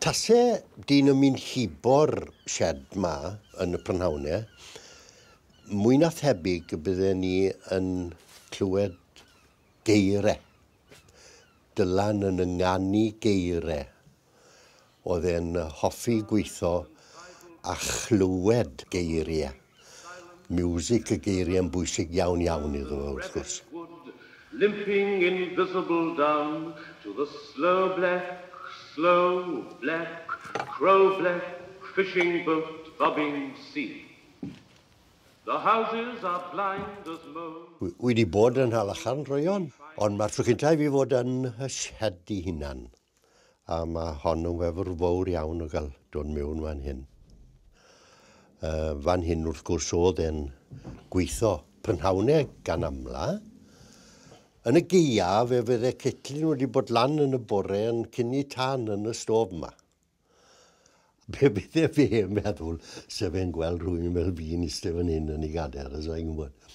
Tase dyn yn mynd hibo'r sied 'ma yn y prynhawn e, mwy na thebyg y bydden ni yn clywed geire. Dylan yn ynganu geire. Oedd e'n hoffi gweitho a chlywed geiriau. Miwsig y geiriau yn bwysig iawn iawn iddo fo wrth gwrs. Limping invisible down to the slow bleck, slow bleck, crow bleck fishing boat bobbing sea. The houses are blind as moles. Wi 'di bod yn Nhalacharn droeon, ond ma'r tro cynta' i fi fod yn 'y sied i hunan. a mae hon yn wefr fawr iawn o gael dod mewn fan hyn. Uh, fan hyn wrth gwrs oedd e'n gweithio prynhawnau gan amla. Yn y geia fe fydde cetlin wedi bod lan yn y bore yn cynni tan yn y stof yma. Be bydde fe yn meddwl sef fe'n gweld rhywun fel fi'n eistedd fan hyn yn ei gadael, os mae'n gwybod.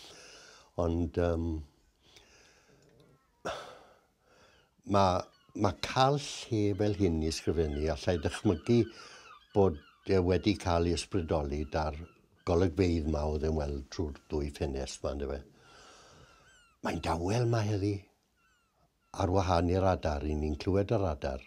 Ond um, Ma, ma cael lle fel hyn i ysgrifennu, allai ddychmygu bod e wedi cael ei ysbrydoli da'r golygfeydd ma oedd e'n weld trwy'r ddwy ffenest ma yndyfe. Mae'n dawel ma heddi. Ar wahân i'r adar, i ni'n clywed yr adar.